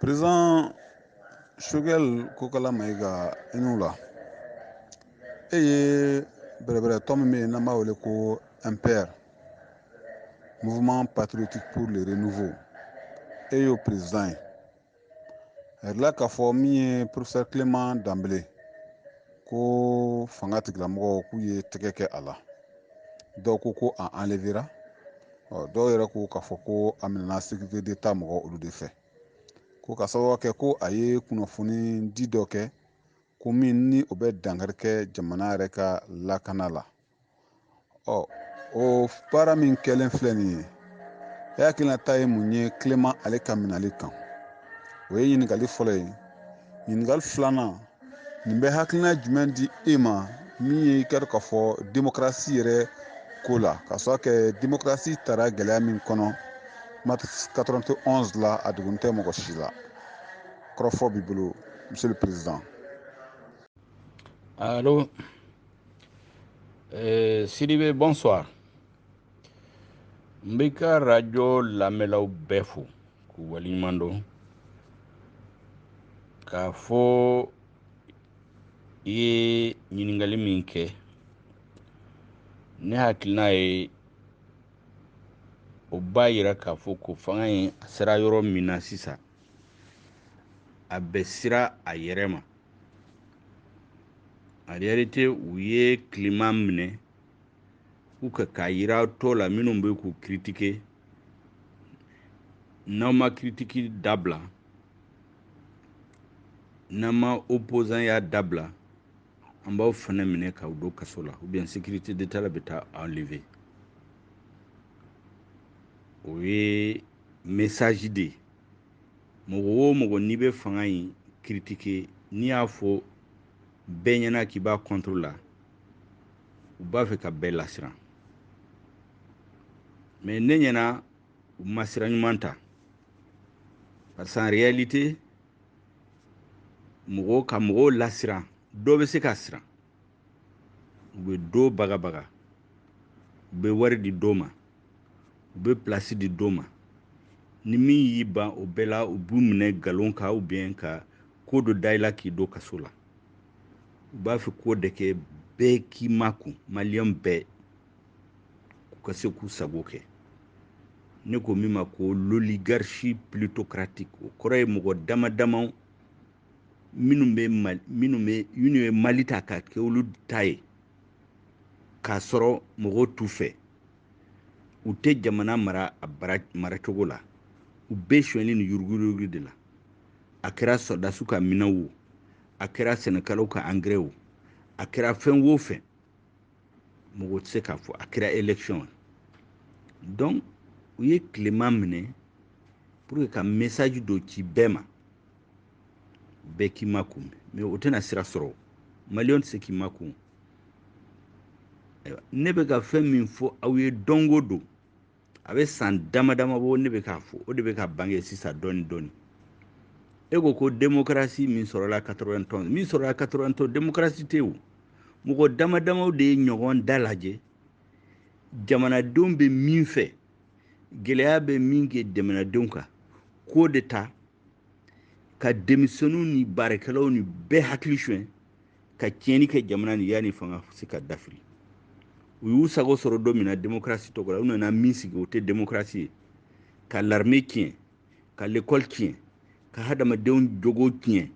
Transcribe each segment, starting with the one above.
président sogɛl kokala mayiga i ni wula e ye bɛrɛbɛrɛtɔn min bɛ yen n'an b'a wele ko mpr mouvement patriotique pour le renouveau e y'o président ye a yirala k'a fɔ min ye professeur clément danbele ko fanga tigilamɔgɔw k'u ye tɛgɛ kɛ a la dɔw ko ko a enlevera dɔw yɛrɛ ko k'a fɔ ko a minɛna sécurité d'état mɔgɔ olu de fɛ ko ka sababu kɛ ko a ye kunnafonidi dɔ kɛ ko min ni o bɛ dankari kɛ jamana yɛrɛ ka lakana la ɔ o baara min kɛlen filɛ nin ye e hakilinata ye mun ye clément ale ka minɛli kan o ye ɲininkali fɔlɔ ye ɲininkali filanan nin bɛ hakilina jumɛn di e ma min ye i ka dɔn k'a fɔ demokarasi yɛrɛ ko la ka sɔrɔ kɛ demokarasi tara gɛlɛya min kɔnɔ mars 91 la a dogolen tɛ mɔgɔ si la kɔrɔfɔ b'i bolo monsieur le président Allô euh, Sidibe, bonsoir. n b'i ka arajo lamɛnlaw bɛɛ fo k'u waleɲuman dɔn k'a fɔ i ye ɲininkali min kɛ ne hakilina ye o b'a yira k'a fɔ ko fanga in a sera yɔrɔ min na sisan a bɛ siran a yɛrɛ ma en réalité u ye clément minɛ pour que k'a yira tɔw la minnu bɛ k'u kiritike n'aw ma kiritiki dabila n'aw ma opozanya dabila an b'aw fana minɛ k'aw don kaso la ubiyɛn sécurité d'état la bɛ taa aw enlevé o ye mesaji de ye mɔgɔ o mɔgɔ n'i bɛ fanga in kiritike n'i y'a fɔ bɛɛ ɲɛna k'i b'a kɔntoro la u b'a fɛ ka bɛɛ lasiran mɛ ne ɲɛna u ma sira ɲuman ta parce qu'en réalité mɔgɔw ka mɔgɔw lasiran dɔ bɛ se ka siran u bɛ dɔ bagabaga u bɛ wari di dɔ ma u bɛ pilasi di dɔ ma ni min y'i ban o bɛɛ la u b'u minɛ nkalon kan ubiyɛn ka ko dɔ da i la k'i don kaso la u b'a fɛ k'o de kɛ bɛɛ k'i makun maliyɛn bɛɛ k'u ka se k'u sago kɛ ne ko min ma ko l'oligarchie ploutocratique o kɔrɔ ye mɔgɔ dama damaw minnu bɛ mali minnu bɛ minnu ye mali ta ka kɛ olu ta ye k'a sɔrɔ mɔgɔw t'u fɛ u tɛ jamana mara a maracogo la u bɛ sonyɛli ni yuruguyurugu de la a kɛra sɔrɔdasiw ka minɛnw wo a kɛra sɛnɛkɛlaw ka angɛrɛ wo a kɛra fɛn o fɛn mɔgɔ tɛ se k'a fɔ a kɛra élection ye donc u ye clément minɛ pour que ka message dɔ ci bɛɛ ma bɛɛ k'i makun mais o tɛna sira sɔrɔ maliyɛn tɛ se k'i makun ne bɛ ka fɛn min fɔ aw ye don o don a bɛ san dama dama bɔ ne bɛ k'a fɔ o de bɛ ka bange sisan dɔɔni dɔɔni e ko ko demokarasi min sɔrɔla 91 min sɔrɔla 91 demokarasi tɛ o mɔgɔ dama damaw de ye ɲɔgɔn dalajɛ jamanadenw bɛ min fɛ gɛlɛya bɛ min kɛ jamanadenw kan k'o de ta ka denmisɛnninw ni baarakɛlaw ni bɛɛ hakili suɲɛ ka tiɲɛni kɛ jamana nin yanni fanga se ka dafiri u y'u sago sɔrɔ don min na demokarasi tɔgɔ la u nana min sigi o tɛ demokarasi ye ka larime tiɲɛ ka lekɔli tiɲɛ ka hadamadenw jogo tiɲɛ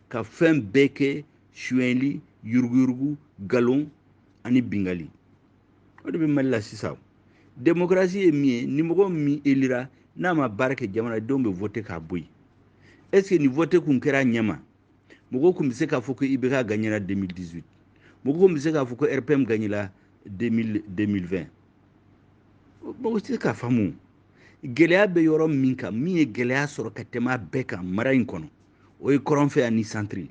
ka fɛn bɛɛ kɛ suyɛnli yuruguyurugu galon ani bingali o de bɛ mali la sisan demokarasi ye min ye ni mɔgɔ min elira n'a ma baara kɛ jamanadenw bɛ vote k'a bɔ yen est ce que ni vote kun kɛra a ɲɛma mɔgɔw tun bɛ se k'a fɔ ko ibk gagnera 2018 mɔgɔw tun bɛ se k'a fɔ ko rpm gagnera 2020 mɔgɔ tɛ se k'a faamu gɛlɛya bɛ yɔrɔ min kan min ye gɛlɛya sɔrɔ ka tɛmɛ a bɛɛ kan mara in kɔnɔ o ye kɔrɔnfɛ ani santiri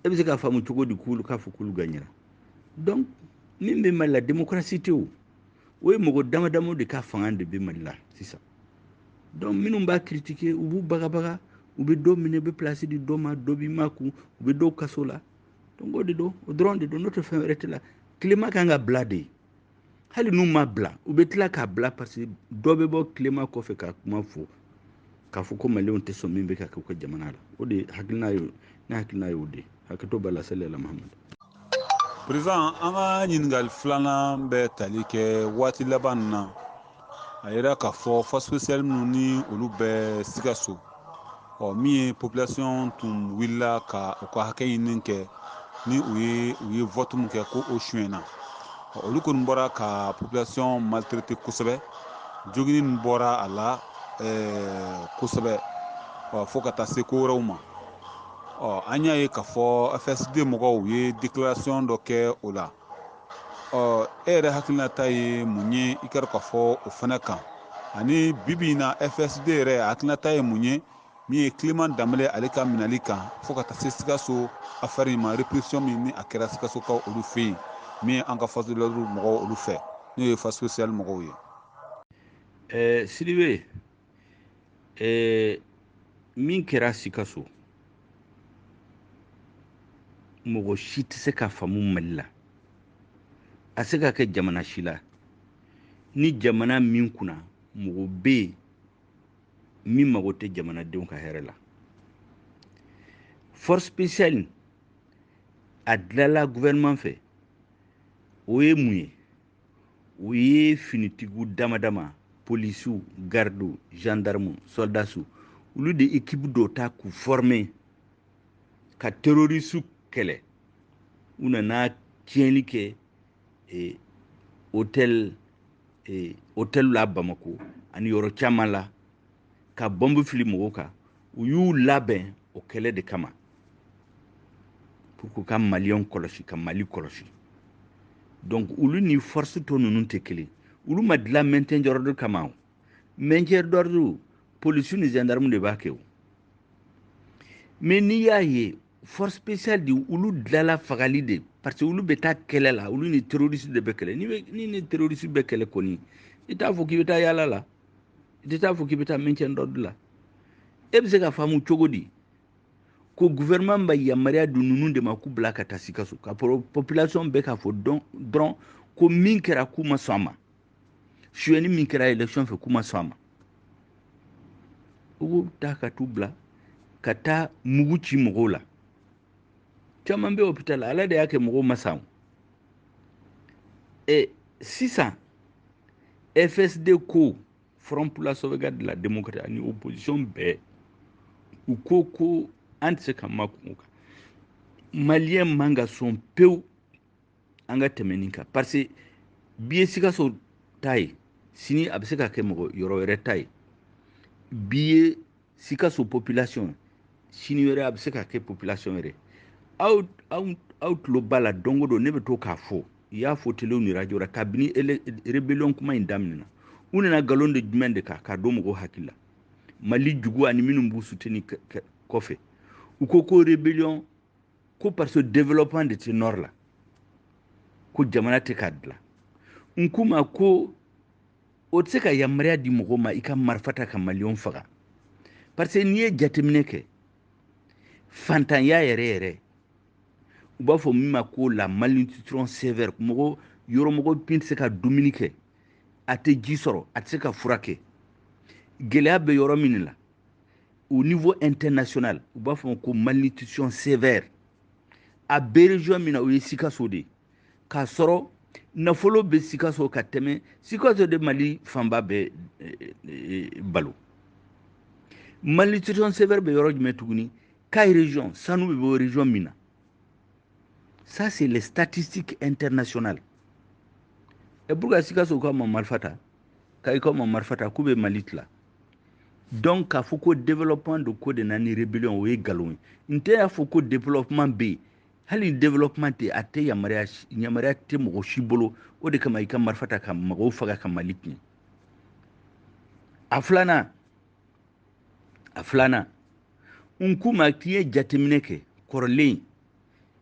e bɛ se k'a faamu cogo di k'olu k'a fɔ k'olu gagnera donc min bɛ mali la démocratie tɛ o o ye mɔgɔ dama damaw de ka fanga de bɛ mali la sisan donc minnu b'a critiquer u b'u bagabaga u bɛ dɔ minɛ u bɛ place di dɔ ma dɔ b'i makun u bɛ dɔw kaso la donc o de don o dɔrɔn de don n'o tɛ fɛn wɛrɛ tɛ la clément kan ka bila de hali n'u m'a bila u bɛ tila k'a bila parce que dɔ bɛ bɔ clément kɔfɛ ka kuma fɔ k'a fɔ ko maliyɛnw tɛ sɔn min bɛ ka kɛ u ka jamana la o de hakilina ye ne hakilina ye o de ye hakɛto b'a la seli la mahamadu perezidan an ka ɲininkali filanan bɛ tali kɛ waati laban na a yira k'a fɔ force spéciale minnu ni olu bɛ sikaso ɔ min ye population tun wulila ka u ka hakɛ ɲini kɛ ni u ye u ye vɔtu min kɛ ko o suyɛnna olu kɔni bɔra ka population maltraiter kosɛbɛ jogini min bɔra a la ɛɛ kosɛbɛ fo ka taa se ko wɛrɛw ma ɔ an y'a ye k'a fɔ fsd mɔgɔw ye declaration dɔ kɛ o la ɔ e yɛrɛ hakilinata ye mun ye i ka k'a fɔ o fana kan ani bibi in na fsd yɛrɛ hakilinata ye mun ye min ye clément danbele ale ka minɛli kan fo ka taa se sikaso afɛri in ma repression min ni a kɛra sikasokaw olu fɛ yen min ye an ka force de l'ordre mɔgɔw olu fɛ n'o ye force spéciale mɔgɔw ye ɛɛ sidibe eh, min kɛra sikaso mɔgɔ si tɛ se ka faamu mali la a se ka kɛ jamana si la ni jamana min kunna mɔgɔ bɛ yen min mago tɛ jamanadenw ka hɛrɛ la force spéciale a dilala gouvernement fɛ o ye mun ye u ye finitigiw dama dama polisiw gardiw gendarmew soldasiw olu de ekipu dɔ ta k'u forme ka terorisiw kɛlɛ u nana tiɲɛni kɛ e, hotel e, hotel la bamako ani yɔrɔ caman la ka bɔnbu fili mɔgɔw kan u y'u labɛn o kɛlɛ de kama pour que ka maliyɛnw kɔlɔsi ka mali kɔlɔsi donc olu ni force tɔ ninnu tɛ kelen olu ma dilan maintien d'ordre kama o maintien d'ordre polisiw ni gendarme de b'a kɛ o mais n'i y'a ye force spéciale de olu dilala fagali de parce que olu bɛ taa kɛlɛ la olu ni terroriste de bɛ kɛlɛ ni ni terroriste bɛ kɛlɛ kɔni i t'a fɔ k'i bɛ taa yaala la i tɛ t'a fɔ k'i bɛ taa maintien d'ordre la e bɛ se ka faamu cogo di ko gouvernement bɛ yamaruya di ninnu de ma k'u bila ka taa sikaso ka population bɛ k'a fɔ dɔrɔn ko min kɛra k'u ma sɔn a ma suyɛni min kɛra election fɛ k'u ma sɔn a ma u b'u ta ka t'u bila ka taa mugu ci mɔgɔw la caman bɛ hôpital la ala de y'a kɛ mɔgɔw ma sa o e sisan fsd ko front pour la sauvegarde de la démocratie ani opposition bɛɛ u ko ko an tɛ se ka makun o kan maliyɛn man ka sɔn pewu an ka tɛmɛ nin kan parce que bi ye sikaso ta ye sini a bɛ se ka kɛ mɔgɔ yɔrɔ wɛrɛ ta ye bi ye sikaso population sini wɛrɛ a bɛ se ka kɛ population wɛrɛ aw aw aw tulo b'a la don o don ne bɛ to k'a fɔ i y'a fɔ telew ni radio la kabini rebellion kuma in daminɛna u nana nkalon de jumɛn de kan k'a don mɔgɔw hakili la mali juguw ani minnu b'u suteni kɔfɛ u ko ko rebellion ko parce que développement de tɛ nord la ko jamana tɛ k'a dilan n k'u ma ko o tɛ se ka yamaruya di mɔgɔ ma i ka marifa ta ka maliyɛnw faga parce que n'i ye jateminɛ kɛ fantanya yɛrɛ yɛrɛ u b'a fɔ min ma ko la malnutrition sévère mɔgɔ yɔrɔ mɔgɔ min tɛ se ka dumuni kɛ a tɛ ji sɔrɔ a tɛ se ka fura kɛ gɛlɛya bɛ yɔrɔ min la au niveau international u b'a fɔ ko malnutrition sévère a bɛ région min na o ye sikaso de k'a sɔrɔ nafolo bɛ sikaso ka tɛmɛ sikaso de mali fanba bɛ eh, eh, balo malnutrition sévère bɛ yɔrɔ jumɛn tuguni kayi région sanu bɛ bɔ région min na ça c'est les statistiques internationales et pourquoi sikasokaw ma marifa ta kayikaw ma marifa ta k'u bɛ mali tila donc k'a fɔ ko développement de ko de na ni rébellion o ye nkalon ye n tɛ y'a fɔ ko développement bɛ yen hali développement tɛ a tɛ yamaruya yamaruya tɛ mɔgɔ si bolo o de kama i ka marifa ta ka mɔgɔw faga ka mali tiɲɛ a filanan a filanan n k'u ma k'i ye jateminɛ kɛ kɔrɔlen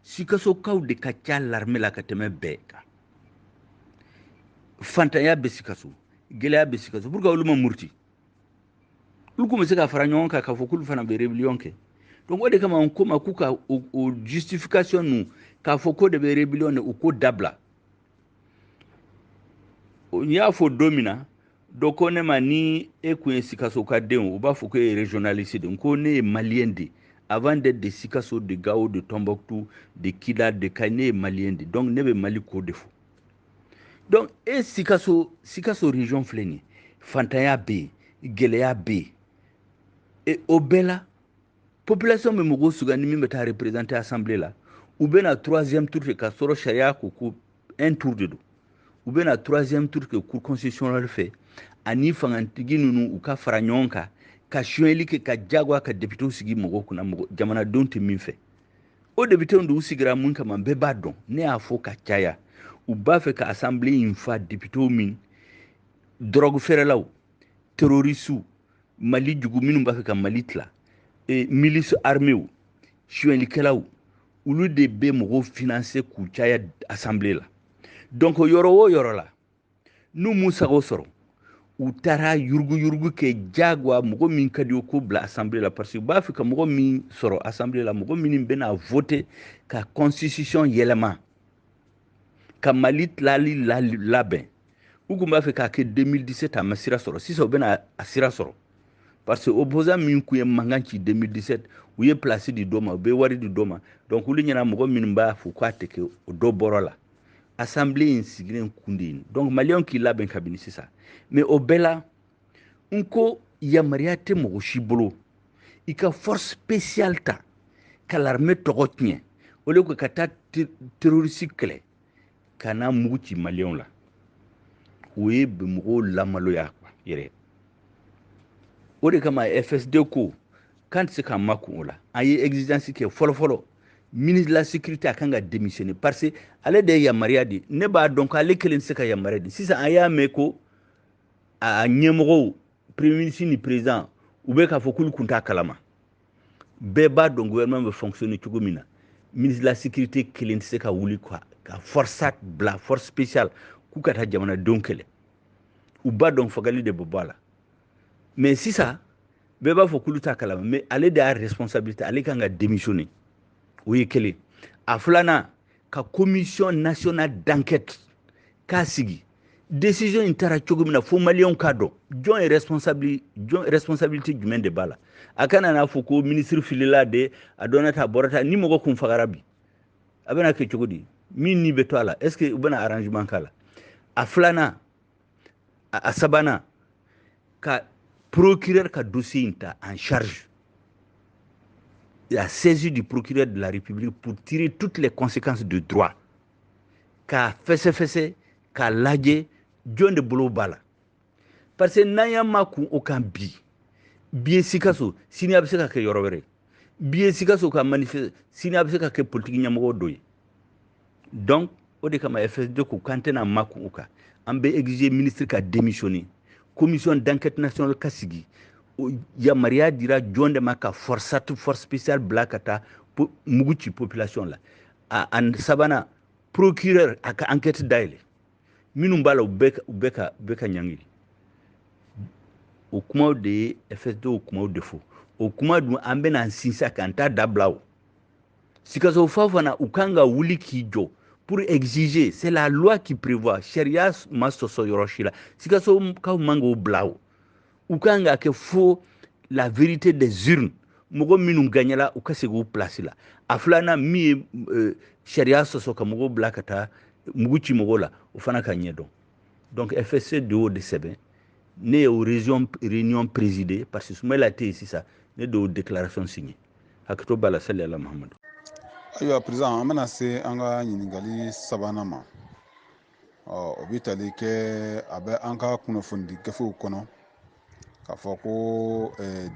sikasokaw de ka ca larime la ka tɛmɛ bɛɛ kan fantanya bɛ sikaso gɛlɛya bɛ sikaso pourquoi olu ma muruti olu kun bɛ se ka fara ɲɔgɔn kan k'a fɔ k'olu fana bɛ rébellion kɛ donc o de kama n k'u ma k'u ka o justification ninnu k'a fɔ k'o de bɛ rébellion de u k'o dabila n y'a fɔ don min na dɔ ko ne ma ni e kun ye sikaso ka den u b'a fɔ ko e ye régionaliste de n ko ne ye maliyɛn de avant d'être de sikaso de gawo de tombouctou de kidal de kayi ne ye maliyɛn de donc ne bɛ mali ko de fɔ donc e sikaso sikaso région filɛ nin ye fantanya bɛ yen gɛlɛya bɛ yen e o bɛɛ la population bɛ mɔgɔw sugandi min bɛ taa représenter assemblée la u bɛna troisième tour kɛ k'a sɔrɔ sariya ko ko un tour de don u bɛna troisième tour kɛ cour constitutionnelle fɛ ani fangantigi ninnu u ka fara ɲɔgɔn kan ka sonyɛli kɛ ka jagoya ka depitew sigi mɔgɔw kunna mɔgɔ jamanadenw tɛ min fɛ o depitew de u sigira mun kama bɛɛ b'a dɔn ne y'a fɔ ka caya u b'a fɛ ka asanbile in fa depitew min dɔrɔgu feerelaw terorisiw mali jugu minnu b'a fɛ ka mali tila e, milisi armew suyɛlikɛlaw olu de bɛ mɔgɔw finanse k'u caya asanbile la donc yɔrɔ o yɔrɔ la n'u m'u sago sɔrɔ u taara yuruguyurugu kɛ jagoya mɔgɔ min ka di u k'o bila asanbile la parce que u b'a fɛ ka mɔgɔ min sɔrɔ asanbile la mɔgɔ minnu bɛna vote ka constitution yɛlɛma ka mali tilali labɛn u kun b'a fɛ k'a kɛ 2017 a ma sira sɔrɔ sisan u bɛna a sira sɔrɔ parce que opposant min kun ye mankan ci 2017 u ye place di dɔ ma u bɛ wari di dɔ ma donc olu ɲɛ na mɔgɔ minnu b'a fɔ k'a tɛ kɛ o dɔ bɔr'o la assemblée in sigilen kun de ye donc maliyɛnw k'i labɛn kabini sisan mais o bɛɛ la n ko yamaruya tɛ mɔgɔ si bolo i ka force spéciale ta ka l'armée tɔgɔ tiɲɛ au lieu que ka taa terrorisi kɛlɛ ka na mugu ci maliyɛnw la o ye bɛ mɔgɔw lamaloya yɛrɛ o de kama fsd ko k'an tɛ se k'an makun o la an ye exigence kɛ fɔlɔfɔlɔ ministre de la sécurité a kan ka démissionner parce que ale de ye yamaruya di ne b'a dɔn ko ale kelen tɛ se ka yamaruya di sisan an y'a mɛn ko a ɲɛmɔgɔw premier ministre ni président u bɛ k'a fɔ k'olu kun t'a kalama bɛɛ b'a dɔn gouvernement bɛ fonctionner cogo min na ministre de la sécurité kelen tɛ se ka wuli quoi ka forsat bila force spéciale k'u ka taa jamanadenw kɛlɛ u b'a dɔn fagali de bɛ bɔ a la mais sisan bɛɛ b'a fɔ k'olu t'a kalama mais ale de y'a responsabilité ale kan ka démissionner o ye kelen a filanan ka commission nationale d'enquête k'a sigi décision in taara cogo min na fo maliyɛnw k'a dɔn jɔn ye responsabili jɔn responsabilité jumɛn de b'a la a kana n'a fɔ ko ministre filila de a donna tan a bɔra tan ni mɔgɔ kun fagara bi a bɛna kɛ cogo di min ni bɛ to a la est ce que u bɛna arrangement k'a la a filanan a sabanan ka procureur ka dossier in ta en charge la saisie du procureur de la République pour tirer toutes les conséquences de droit k'a fɛsɛfɛsɛ k'a lajɛ jɔn de bolo b'a la parce que n'an y'an makun o kan bi bi ye sikaso sini a bɛ se ka kɛ yɔrɔ wɛrɛ bi ye sikaso ka manifeste sini a bɛ se ka kɛ politique ɲɛmɔgɔ dɔ ye donc o de kama fsd ko k'an tɛna makun o kan an bɛ exiger ministre ka démissionner commission d'enquête nationale ka sigi yamaruya dira jɔn de ma ka forsat force spéciale bila ka taa mugu ci population la a sabanan procureur a ka enquête dayɛlɛ minnu b'a la u bɛɛ ka bɛɛ ka ɲangiri o kumaw de ye fsd y'o kumaw de fɔ o kuma dun an bɛna an sinsin k'an t'a dabila o sikaso faw fana u kan ka wuli k'i jɔ pour exiger c'est la loi qui prévoit sariya ma sɔsɔ yɔrɔ si la sikasokaw man k'o bila o u ka kan k'a kɛ fo la vérité des urnes mɔgɔ minnu gagnala u ka segin u place la a filanan min ye euh, sariya sɔsɔ ka mɔgɔw bila ka taa mugu ci mɔgɔw la o fana ka ɲɛdɔn donc fsd y'o de sɛbɛn ne ye o réunion présidé parce que sumayila tɛ yen sisan ne de y'o déclaration signé hakɛto b'a la sali ala mahamadu ayiwa président an bɛna se an ka ɲininkali sabanan ma ɔ o bɛ tali kɛ a bɛ an ka kunnafonidi gafew kɔnɔ k'a fɔ ko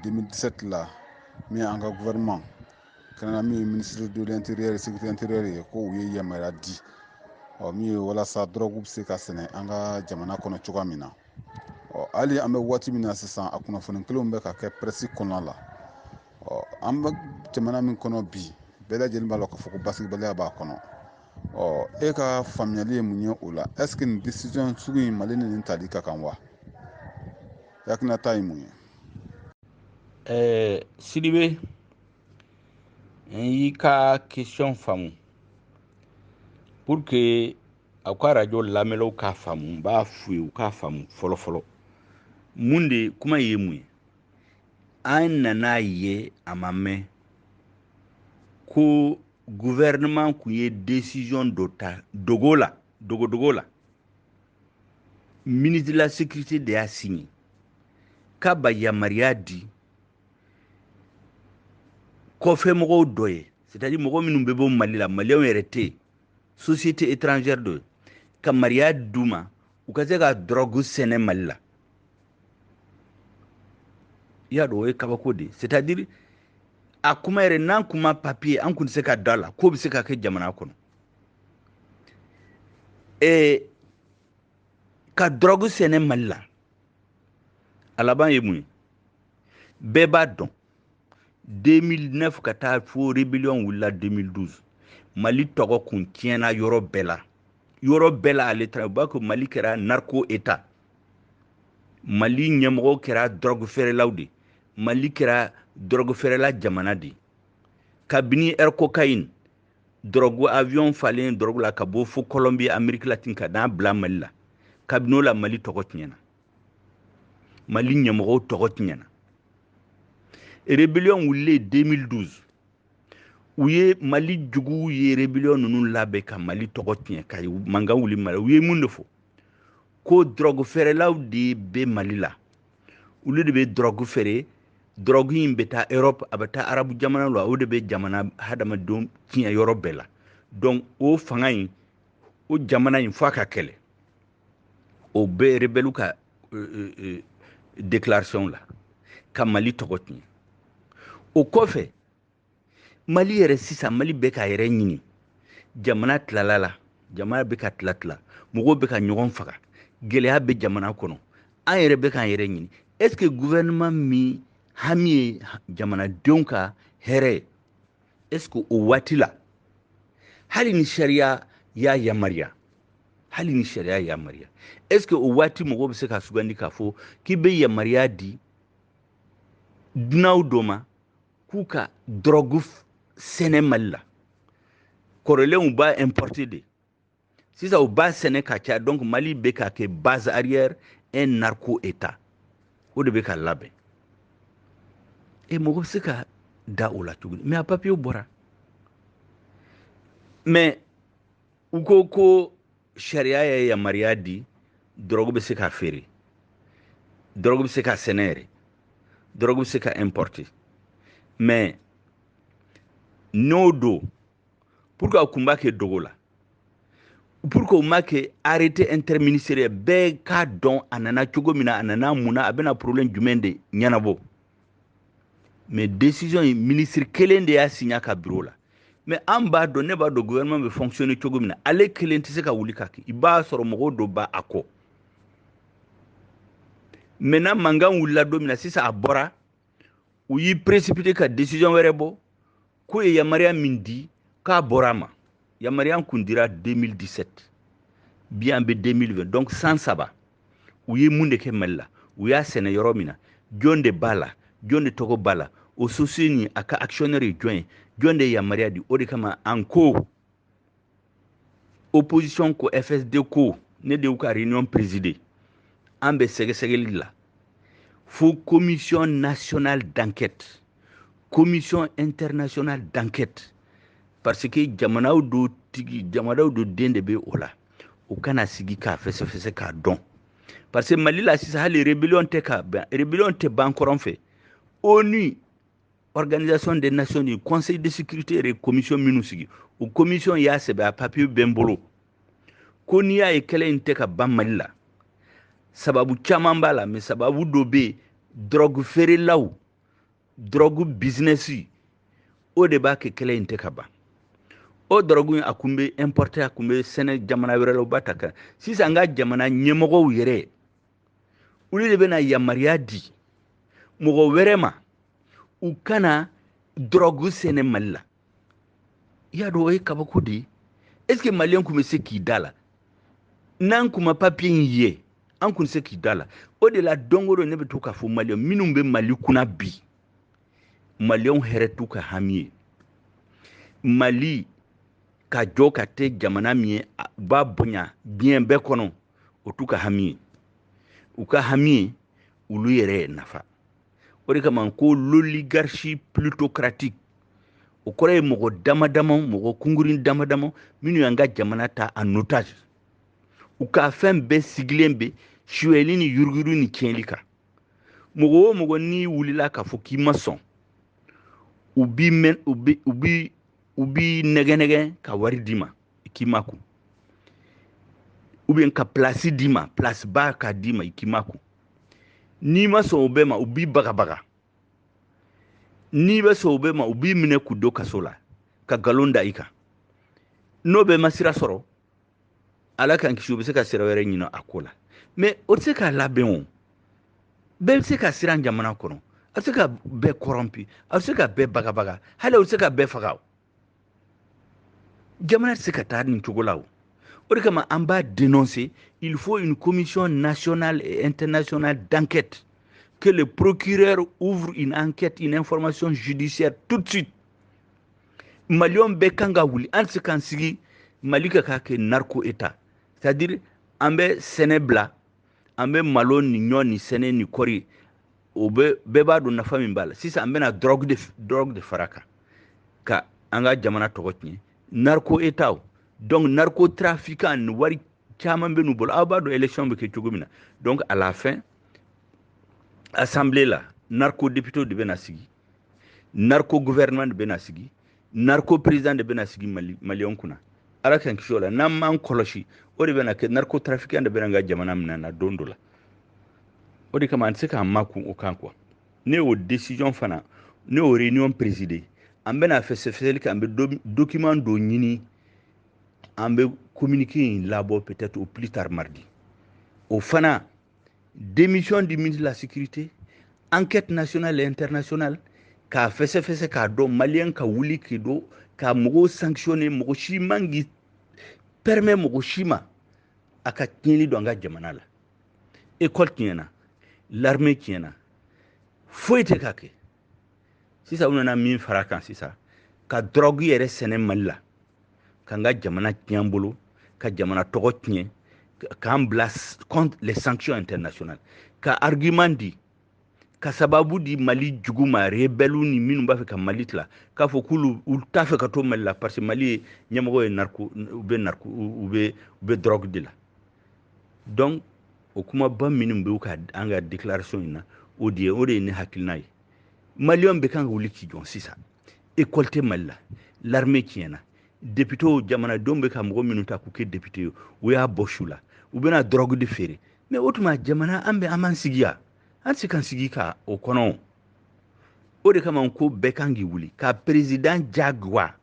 2017 la min an ka gouvernement kɛrɛnkɛrɛnnenya min ye ministre de l'intérieur sécurité intérieure ye ko u ye yamaruya di ɔ min ye walasa dɔrɔgu bɛ se ka sɛnɛ an ka jamana kɔnɔ cogoya min na ɔ hali an bɛ waati min na sisan a kunnafoni kelenw bɛ ka kɛ pɛrɛsi kɔnɔna la ɔ an bɛ jamana min kɔnɔ bi bɛɛ lajɛlen b'a lɔn k'a fɔ ko basigibaliya b'a kɔnɔ ɔ e ka faamuyali ye mun ye o la est ce que nin décision sugu in mali ni nin tali ka kan wa hakilinata ye mun ye ɛɛ sidibe n y'i ka question faamu pour que aw ka radio lamɛnlaw k'a faamu n b'a f'u ye u k'a faamu fɔlɔ fɔlɔ mun de kuma in ye mun ye an nan'a ye a ma mɛn ko gouvernement kun ye décision dɔ ta dogo la dogodogo la ministre de la sécurité de y'a signé k'a b'a yamaruya di kɔfɛmɔgɔw dɔ ye c'est à dire mɔgɔ minnu bɛ bɔ mali la maliyɛnw yɛrɛ tɛ yen société étrangère dɔ ye ka yamaruya d'u ma u ka se ka dɔrɔgu sɛnɛ mali la i y'a dɔn o ye kabako de ye c'est à dire a kuma yɛrɛ n'an kun ma papiye ye an kun tɛ se ka d'a la k'o bɛ se ka kɛ jamana kɔnɔ ee ka dɔrɔgu sɛnɛ mali la a laban ye mun ye bɛɛ b'a dɔn 2009 ka taa fo rébellion wulila 2012 mali tɔgɔ kun tiɲɛna yɔrɔ bɛɛ la yɔrɔ bɛɛ la ale taara u b'a ko mali kɛra narco état mali ɲɛmɔgɔw kɛra dɔrɔgu feerelaw de mali kɛra dɔrɔgu feerela jamana de kabini air cocaïne dɔrɔgu avion falen dɔrɔgu la ka bɔ fo colombie amérique latine ka n'a bila mali la kabini o la mali tɔgɔ tiɲɛna mali ɲɛmɔgɔw tɔgɔ tiɲɛna rébellion wulilen 2012 u ye mali juguw ye rébellion ninnu labɛn ka mali tɔgɔ tiɲɛ ka mankan wuli mali u ye mun de fɔ ko dɔrɔgu feerelaw de bɛ mali la olu de bɛ dɔrɔgu feere dɔrɔgu in bɛ taa europe a bɛ taa arabu jamana la o de bɛ jamana hadamadenw tiɲɛ yɔrɔ bɛɛ la donc o fanga in o jamana in f'a ka kɛlɛ o bɛ rebɛliw ka euh, euh, déclaration la ka mali tɔgɔ tiɲɛ o kɔfɛ mali yɛrɛ sisan mali bɛ k'a yɛrɛ ɲini jamana tilala la jamana bɛ ka tila tila mɔgɔw bɛ ka ɲɔgɔn faga gɛlɛya bɛ jamana kɔnɔ an yɛrɛ bɛ k'an yɛrɛ ɲini est ce que gouvernement min hami ye jamanadenw ka hɛrɛ ye est ce que o waati la hali ni sariya y'a yamaruya hali ni sariya yamaruya est ce que o waati mɔgɔw bɛ se ka sugandi k'a fɔ k'i bɛ yamaruya di dunanw dɔ ma k'u ka dɔrɔgu sɛnɛ mali la kɔrɔlen u b'a importer de sisan u b'a sɛnɛ ka caya donc mali bɛ ka kɛ base arrière un narco état o de bɛ ka labɛn e mɔgɔ bɛ se ka da o la tuguni mais a papiyew bɔra mais u ko ko sariya ye yamaruya di dɔrɔgu bɛ se ka feere dɔrɔgu bɛ se ka sɛnɛ yɛrɛ dɔrɔgu bɛ se ka importer mais n'o don pourquoi a kun b'a kɛ dogo la pourquoi o ma kɛ arrêté interministériel bɛɛ k'a dɔn a nana cogo min na a nana mun na a bɛna problème jumɛn de ɲɛnabɔ mais décision in ministre kelen de y'a signer a ka bureau la mais an b'a dɔn ne b'a dɔn gouvernement bɛ fonctionner cogo min na ale kelen tɛ se ka wuli k'a kɛ i b'a sɔrɔ mɔgɔw dɔ b'a kɔ maintenant mankan wulila don min na sisan a bɔra u y'i précipiter ka décision wɛrɛ bɔ k'u ye yamaruya min di k'a bɔra a ma yamaruya kun dira 2017 bi an bɛ 2020 donc san saba u ye mun de kɛ mali la u y'a sɛnɛ yɔrɔ min na jɔn de b'a la jɔn de tɔgɔ b'a la o société nin a ka actionnaire ye jɔn ye jɔn de ye yamaruya di o de kama an ko opposition ko fsd ko ne de y'u ka réunion présider an bɛ sɛgɛsɛgɛli la fo commission nationale d'enquête commission internationale d'enquête parce que jamanaw dɔ tigi jamanaw dɔ den de bɛ o la o ka na sigi k'a fɛsɛfɛsɛ k'a dɔn parce que mali la sisan hali rébellion tɛ ka ban rébellion tɛ ban kɔrɔn fɛ onu organisation des nations unies conseil de sécurité yɛrɛ ye commission minnu sigi o commission y'a sɛbɛn a papiye bɛ n bolo ko n'i y'a ye kɛlɛ in tɛ ka ban mali la sababu caman b'a la mais sababu dɔ bɛ yen dɔrɔgu feerelaw dɔrɔgu bizinɛsi o de b'a kɛ kɛlɛ in tɛ ka ban o dɔrɔgu in a kun bɛ importer a kun bɛ sɛnɛ jamana wɛrɛ la u b'a ta ka na sisan an ka jamana ɲɛmɔgɔw yɛrɛ olu de bɛna yamaruya di mɔgɔ wɛrɛ ma u kana dɔrɔgu sɛnɛ mali la i y'a dɔn o ye kabako de ye est ce que maliyɛn kun bɛ se k'i da la n'an kun ma papiye in ye an kun tɛ se k'i da la o de la don o don ne bɛ to k'a fɔ maliyɛn minnu bɛ mali kunna bi maliyɛnw hɛrɛ t'u ka hami ye mali ka jɔ ka kɛ jamana min ye u b'a bonya diɲɛ bɛɛ kɔnɔ o t'u ka hami ye u ka hami ye olu yɛrɛ nafa o de kama ko l'oligarchie plutocratique o kɔrɔ ye mɔgɔ dama dama mɔgɔ kunkurin dama dama minnu y'an ka jamana ta en otage u ka fɛn bɛɛ sigilen bɛ suyɛli ni yuruguyurugu ni tiɲɛli kan mɔgɔ o mɔgɔ n'i wulila k'a fɔ k'i ma sɔn u b'i mɛn u bi u bi u b'i nɛgɛnɛgɛn ka wari d'i ma i k'i makun ou bien ka pilasi d'i ma pilasiba k'a d'i ma i k'i makun n'i ma sɔn o bɛɛ ma u b'i bagabaga n'i ma sɔn o bɛɛ ma u b'i minɛ k'i don kaso la ka nkalon da i kan n'o bɛɛ ma sira sɔrɔ ala k'an kisi u bɛ se ka sira wɛrɛ ɲini a ko la mais o tɛ se k'a labɛn o bɛɛ tɛ se ka siran jamana kɔnɔ a tɛ se ka bɛɛ kɔrɔnpi a tɛ se ka bɛɛ bagabaga hali a tɛ se ka bɛɛ faga o jamana tɛ se ka taa nin cogo la o o de kama an b'a dénoncer il faut une commission nationale et internationale d'enquête que le procureur ouvre une enquête une information judiciaire tout de suite maliyɛnw bɛɛ kan ka wuli an tɛ se k'an sigi mali ka k'a kɛ narco état c'est à dire an bɛ sɛnɛ bila an bɛ malo ni ɲɔ ni sɛnɛ ni kɔri o bɛ bɛɛ b'a dɔn nafa min b'a la sisan an bɛna dɔrɔgu de dɔrɔgu de fara kan ka an ka jamana tɔgɔ tiɲɛ narco état o donc narco trafiquant ni wari caman bɛ n'u bolo aw b'a dɔn élection bɛ kɛ cogo min na donc à la fin assemblée la narco député de bɛna sigi narco gouvernement de bɛna sigi narco président de bɛna sigi mali maliyɛnw kunna ala k'an kisi o la n'an m'an kɔlɔsi o de bɛna kɛ narco trafiquant de bɛna an ka jamana minɛ na don dɔ la o de kama an tɛ se k'an makun o kan quoi ne y'o décision fana ne y'o réunion présider an bɛna fɛsɛfɛsɛli kɛ an bɛ document dɔ ɲini an bɛ communiqué in labɔ peut-être au plus tard mardi o fana démission du ministre de la sécurité enquête nationale et internationale k'a fɛsɛfɛsɛ k'a dɔn maliyɛn ka wuli k'i jɔ ka mɔgɔw sanctionner mɔgɔ si man k'i permet mɔgɔ si ma a ka tiɲɛli don an ka jamana la école tiɲɛna l'armée tiɲɛna foyi tɛ ka kɛ sisan u nana min fara kan sisan ka dɔrɔgu yɛrɛ sɛnɛ mali la k'an ka jamana tiɲɛ bolo ka jamana tɔgɔ tiɲɛ k'an bila contre les sanctions internationales ka argument di ka sababu di mali jugu ma rebɛliw ni minnu b'a fɛ ka mali tila k'a fɔ k'olu u t'a fɛ ka to mali la parce que mali ye ɲɛmɔgɔ ye narko u bɛ narko u bɛ u bɛ dɔrɔgu de la donc o kumaba minnu bɛ ka an ka déclaration in na o de ye o de ye ne hakilina ye maliyɛnw bɛɛ kan ka wuli k'i jɔ sisan ekɔli tɛ mali la l'armée tiɲɛna depitew jamanadenw bɛ ka mɔgɔ minnu ta k'u kɛ depite ye u y'a bɔ su la u bɛna dɔrɔgu de feere mais o tuma jamana an bɛ an b'an sigi yan an tɛ se k'an sigi ka o kɔnɔ o de kama ko bɛɛ kan k'i wuli ka perezidan jagoya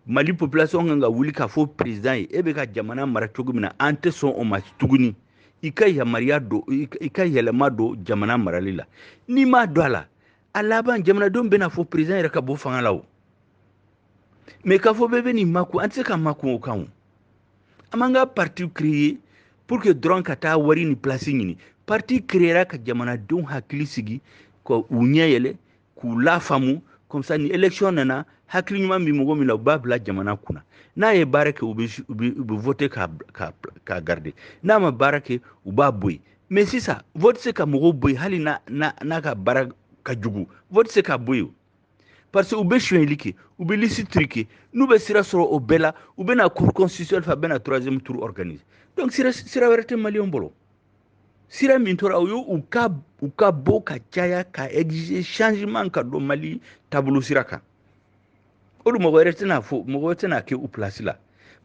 mali population kan ka wuli k'a fɔ président ye e bɛ ka jamana mara cogo min na an tɛ sɔn o ma tuguni i ka yamaruya don i ka yɛlɛma don jamana marali la n'i m'a don a la a laban jamanadenw bɛna fɔ président yɛrɛ ka bɔ fanga la o mais k'a fɔ bɛɛ bɛn'i makun an tɛ se ka makun o kan o an m'an ka parti créer pour que dɔrɔn ka taa wari ni place ɲini parti créera ka jamanadenw hakili sigi ka u ɲɛ yɛlɛ k'u lafaamu comme ça ni élection nana hakili ɲuman bɛ mɔgɔ min na u b'a bila jamana kunna n'a ye baara kɛ u bɛ voter k'a k'a k'a garder n'a ma baara kɛ u b'a bɔ yen mais sisan vote tɛ se ka mɔgɔw bɔ yen hali n'a n'a n'a ka baara ka jugu vote tɛ se k'a bɔ yen parce que u bɛ sonyɛli kɛ u bɛ liste truquer n'u bɛ sira sɔrɔ o bɛɛ la u bɛna cour constitutionnelle fɛ a bɛna troisième tour organiser donc sira sira wɛrɛ tɛ maliyɛnw bolo sira min tora o y'u ka u ka bɔ ka caya ka exiger changement ka don mali taabolo sira kan o dun mɔgɔ wɛrɛ tɛn'a fɔ mɔgɔ wɛrɛ tɛn'a kɛ u place la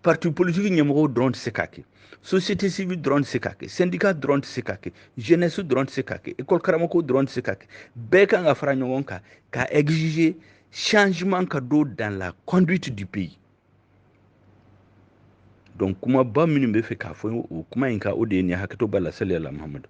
parti politique ɲɛmɔgɔw dɔrɔn tɛ se k'a kɛ société civile dɔrɔn tɛ se k'a kɛ syndicat dɔrɔn tɛ se k'a kɛ jeunesse dɔrɔn tɛ se k'a kɛ école karamɔgɔw dɔrɔn tɛ se k'a kɛ bɛɛ kan ka fara ɲɔgɔn kan ka exiger changement ka don dans la conduite du pays donc kumaba minnu bɛ fɛ k'a fɔ o kuma in kan o de ye nin ye hakɛto b'a la salli ala muhamadu